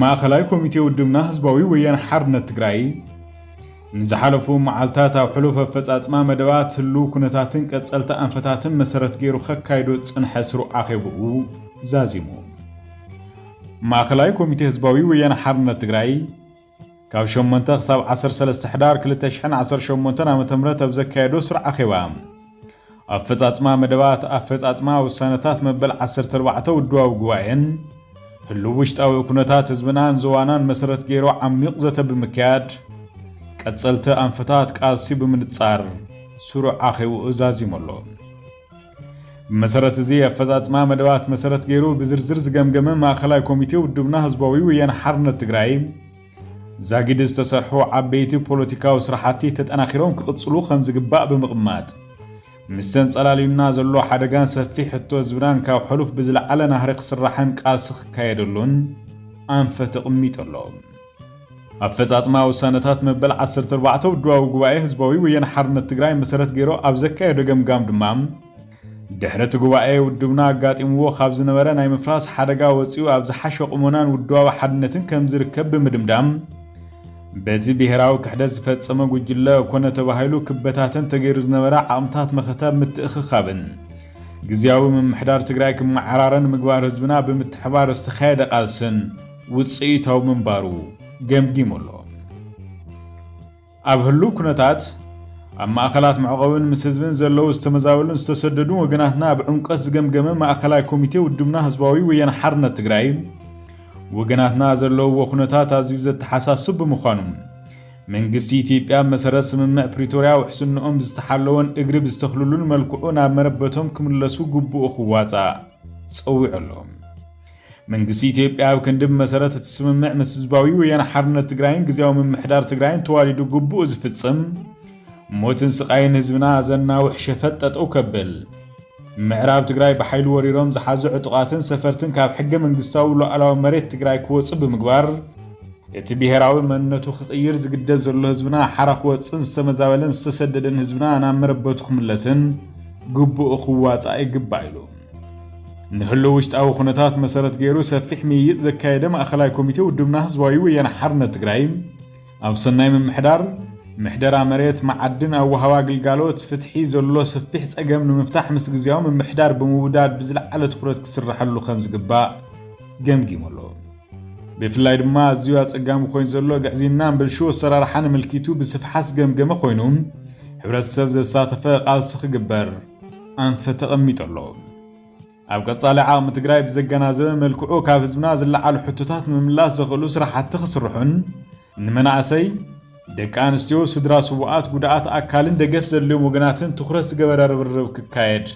ማእኸላይ ኮሚቴ ውድብና ህዝባዊ ወያነ ሓርነት ትግራይ ንዝሓለፉ መዓልታት ኣብ ሕሉፍ ኣፈፃፅማ መደባት፣ ህልው ኩነታትን ቀፀልቲ ኣንፈታትን መሰረት ገይሩ ከካይዶ ዝፅንሐ ስሩዕ ኣኼብኡ ዛዚሙ። ማእኸላይ ኮሚቴ ህዝባዊ ወያነ ሓርነት ትግራይ፣ ካብ ሸሞንተ ክሳብ ዓሰርተ ሰለስተ ሕዳር ክልተ ሽሕን ዓሰርተ ሸሞንተን ዓመተ ምህረት ኣብ ዘካየዶ ስሩዕ ኣኼባ፣ ኣፈጻጽማ መደባት፣ ኣፈጻጽማ ውሳነታት መበል ዓሰርተ ኣርባዕተ ውድባዊ ጉባኤን ህሉው ውሽጣዊ ኩነታት ህዝብናን ዞባናን መሰረት ገይሩ ዓሚዩቕ ዘተ ብምክያድ፣ ቀጸልቲ ኣንፈታት ቃልሲ ብምንጻር ስሩዕ ኣኼብኡ ዛዚሙ ኣሎ። ብመሰረት እዚ ኣፈፃፅማ መደባት መሰረት ገይሩ ብዝርዝር ዝገምገመ ማእኸላይ ኮሚቴ ውድብና ህዝባዊ ወያነ ሓርነት ትግራይ ዛጊድ ዝተሰርሑ ዓበይቲ ፖለቲካዊ ስራሕቲ ተጠናኺሮም ክቕፅሉ ከምዝግባእ ብምቕማጥ ምስ ተንፀላልዩና ዘሎ ሓደጋን ሰፊሕ ሕቶ ህዝብናን ካብ ሕሉፍ ብዝለዓለ ናህሪ ክስራሕን ቃልሲ ክካየደሉን ኣንፈት ኣቕሚጡ ኣሎ። ኣፈፃፅማ ውሳነታት መበል ዓሰርተ ኣርባዕተ ውድባዊ ጉባኤ ህዝባዊ ወያነ ሓርነት ትግራይ መሰረት ገይሩ ኣብ ዘካየዶ ገምጋም ድማ ድሕሪ እቲ ጉባኤ ውድብና ኣጋጢምዎ ካብ ዝነበረ ናይ ምፍራስ ሓደጋ ወፂኡ ኣብ ዝሓሸ ቁመናን ውድባዊ ሓድነትን ከምዝርከብ ብምድምዳም በቲ ብሄራዊ ክሕደት ዝፈፀመ ጉጅለ ኮነ ተባሂሉ ክበታተን ተገይሩ ዝነበረ ዓቕምታት መኸተ ምትእኽኻብን ግዝያዊ ምምሕዳር ትግራይ ክመዓራረን ምግባር ህዝብና ብምትሕባር ዝተኻየደ ቃልስን ውፅኢታዊ ምንባሩ ገምጊሙ ኣሎ። ኣብ ህሉው ኩነታት ኣብ ማእኸላት መዕቆብን ምስ ህዝብን ዘለዉ ዝተመዛበሉን ዝተሰደዱን ወገናትና ኣብ ዕምቆት ዝገምገመ ማእኸላይ ኮሚቴ ውድብና ህዝባዊ ወያነ ሓርነት ትግራይ ወገናትና ዘለውዎ ኩነታት ኣዝዩ ዘተሓሳስብ ብምዃኑ መንግስቲ ኢትዮጵያ ኣብ መሰረት ስምምዕ ፕሪቶርያ ውሕስንኦም ብዝተሓለወን እግሪ ብዝተኽልሉን መልክዑ ናብ መረበቶም ክምለሱ ግቡኡ ክዋፃእ ፀዊዑ ኣሎ። መንግስቲ ኢትዮጵያ ኣብ ክንዲ ብመሰረት እቲ ስምምዕ ምስ ህዝባዊ ወያነ ሓርነት ትግራይን ግዝያዊ ምምሕዳር ትግራይን ተዋዲዱ ግቡኡ ዝፍፅም ሞትን ስቓይን ህዝብና ዘናውሕ ሸፈጥ ጠጠው ከብል ምዕራብ ትግራይ ብሓይሊ ወሪሮም ዝሓዙ ዕጡቓትን ሰፈርትን ካብ ሕገ መንግስታዊ ሉኣላዊ መሬት ትግራይ ክወፁ ብምግባር እቲ ብሄራዊ መንነቱ ክቕይር ዝግደድ ዘሎ ህዝብና ሓራ ክወፅእን ዝተመዛበለን ዝተሰደደን ህዝብና ናብ መረበቱ ክምለስን ግቡኡ ክዋፃእ ይግባእ ኢሉ። ንህሉው ውሽጣዊ ኩነታት መሰረት ገይሩ ሰፊሕ ምይይጥ ዘካየደ ማእኸላይ ኮሚቴ ውድብና ህዝባዊ ወያነ ሓርነት ትግራይ ኣብ ሰናይ ምምሕዳር፣ ምሕደራ መሬት፣ መዓድን፣ ኣወሃህባ ግልጋሎት፣ ፍትሒ ዘሎ ሰፊሕ ፀገም ንምፍታሕ ምስ ግዝያዊ ምምሕዳር ብምውዳድ ብዝለዓለ ትኹረት ክስረሐሉ ከምዝግባእ ገምጊሙ ኣሎ። ብፍላይ ድማ ኣዝዩ ኣፀጋሚ ኮይኑ ዘሎ ግዕዝይናን ብልሹው ኣሰራርሓን ኣመልኪቱ ብስፍሓት ዝገምገመ ኮይኑ ሕብረተሰብ ዘሳተፈ ቃልሲ ክግበር ኣንፈት ተቐሚጡ ኣሎ። ኣብ ቀፃሊ ዓቕሚ ትግራይ ብዘገናዘበ መልክዑ ካብ ህዝብና ዝለዓሉ ሕቶታት ምምላስ ዘኽእሉ ስራሕቲ ክስርሑን ንመናእሰይ፣ ደቂ ኣንስትዮ፣ ስድራ ስውኣት፣ ጉድኣት ኣካልን ደገፍ ዘድልዮም ወገናትን ትኹረት ዝገበረ ርብርብ ክካየድ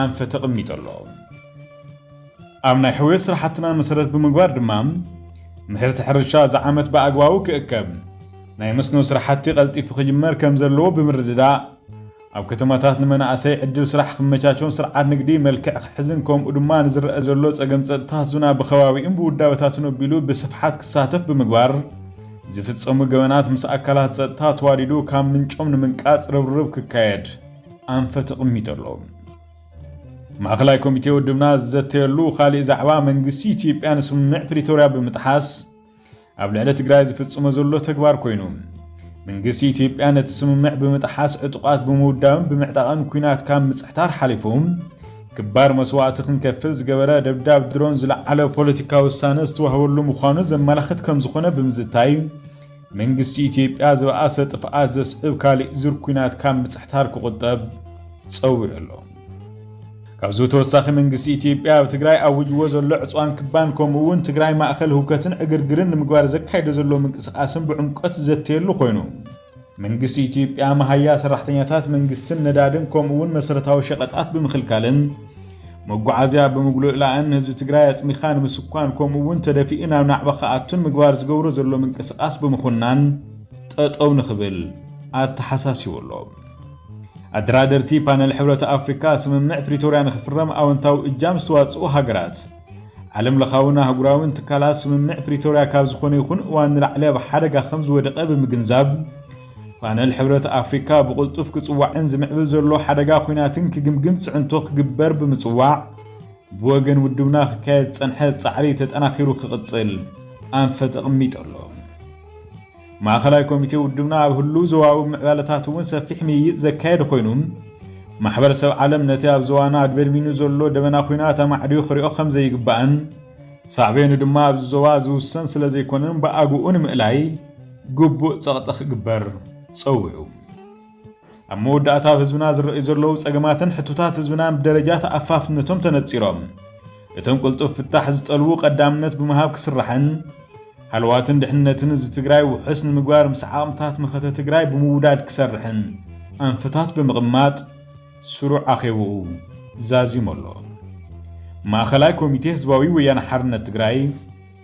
ኣንፈት ተቐሚጡ ኣሎ። ኣብ ናይ ሕውየት ስራሕትና መሰረት ብምግባር ድማ ምህርቲ ሕርሻ እዚ ዓመት ብኣግባቡ ክእከብ፣ ናይ መስኖ ስራሕቲ ቀልጢፉ ክጅመር ከምዘለዎ ብምርድዳእ፣ ኣብ ከተማታት ንመናእሰይ ዕድል ስራሕ ክመቻቾን ስርዓት ንግዲ መልክዕ ክሕዝን ከምኡ ድማ ንዝረኣ ዘሎ ፀገም ፀጥታ ህዝብና ብኸባቢኡን ብውዳበታቱን ኣቢሉ ብስፍሓት ክሳተፍ ብምግባር ዝፍፀሙ ገበናት ምስ ኣካላት ፀጥታ ተዋዲዱ ካብ ምንጮም ንምንቃፅ ርብርብ ክካየድ ኣንፈት ኣቕሚጡ ኣሎ። ማእኸላይ ኮሚቴ ውድብና ዝዘተየሉ ካሊእ ዛዕባ መንግስቲ ኢትዮጵያ ንስምምዕ ፕሪቶርያ ብምጥሓስ፣ ኣብ ልዕሊ ትግራይ ዝፍጽሞ ዘሎ ተግባር ኮይኑ መንግስቲ ኢትዮጵያ ነቲ ስምምዕ ብምጥሓስ ዕጡቓት ብምውዳብን ብምዕጣቕን ኩናት ካብ ምጽሕታር ሓሊፉ ክባር መስዋእቲ ክንከፍል ዝገበረ ደብዳብ ድሮን ዝለዓለ ፖለቲካዊ ውሳነ ዝተዋህበሉ ምዃኑ ዘመላኽት ከም ዝኾነ ብምዝታይ መንግስቲ ኢትዮጵያ ዝበኣሰ ጥፍኣት ዘስዕብ ካሊእ ዙር ኩናት ካብ ምጽሕታር ክቑጠብ ጸዊዑ ኣሎ። ካብዚ ብተወሳኺ መንግስቲ ኢትዮጵያ ኣብ ትግራይ ኣዊጅዎ ዘሎ ዕፅዋን ክባን ከምኡ እውን ትግራይ ማእኸል ህውከትን ዕግርግርን ንምግባር ዘካይዶ ዘሎ ምንቅስቓስን ብዕምቆት ዝዘተየሉ ኮይኑ መንግስቲ ኢትዮጵያ መሃያ ሰራሕተኛታት መንግስትን ነዳድን ከምኡ እውን መሰረታዊ ሸቐጣት ብምኽልካልን መጓዓዝያ ብምጉልእላእን ህዝቢ ትግራይ ኣፅሚኻ ንምስኳን ከምኡ እውን ተደፊኡ ናብ ናዕባ ክኣቱን ምግባር ዝገብሮ ዘሎ ምንቅስቓስ ብምኹናን ጠጠው ንክብል ኣተሓሳሲቡ ኣሎ። ኣደራደርቲ ፓነል ሕብረት ኣፍሪካ ስምምዕ ፕሪቶርያ ንክፍረም ኣወንታዊ እጃም ዝተዋፅኡ ሃገራት ዓለም ለኻዊን ኣህጉራዊን ትካላት ስምምዕ ፕሪቶርያ ካብ ዝኾነ ይኹን እዋን ንላዕሊ ኣብ ሓደጋ ከም ዝወደቐ ብምግንዛብ ፓነል ሕብረት ኣፍሪካ ብቕልጡፍ ክፅዋዕን ዝምዕብል ዘሎ ሓደጋ ኩናትን ክግምግም ፅዕንቶ ክግበር ብምፅዋዕ ብወገን ውድብና ክካየድ ዝፀንሐ ፃዕሪ ተጠናኺሩ ክቕፅል ኣንፈት ኣቕሚጡ ኣሎ። ማእኸላይ ኮሚቴ ውድብና ኣብ ህሉው ዞባዊ ምዕባለታት እውን ሰፊሕ ምይይጥ ዘካየደ ኮይኑ፣ ማሕበረሰብ ዓለም ነቲ ኣብ ዞባና ኣድበድቢኑ ዘሎ ደበና ኹናት ኣማዕድዩ ክሪኦ ከምዘይግባእን ሳዕቤኑ ድማ ኣብዚ ዞባ ዝውሰን ስለዘይኮነን ብኣግኡ ንምእላይ ግቡእ ፀቕጢ ክግበር ፀዊዑ። ኣብ መወዳእታ ኣብ ህዝብና ዝረኣዩ ዘለዉ ጸገማትን ሕቶታት ህዝብናን ብደረጃ ተኣፋፍነቶም ተነጺሮም እቶም ቅልጡፍ ፍታሕ ዝጠልቡ ቀዳምነት ብምሃብ ክስራሕን ሃለዋትን ድሕንነትን ህዝቢ ትግራይ ውሑስ ንምግባር ምስ ዓቕምታት መኸተ ትግራይ ብምውዳድ ክሰርሕን ኣንፈታት ብምቕማጥ ስሩዕ ኣኼብኡ ዛዚሙ ኣሎ። ማእኸላይ ኮሚቴ ህዝባዊ ወያነ ሓርነት ትግራይ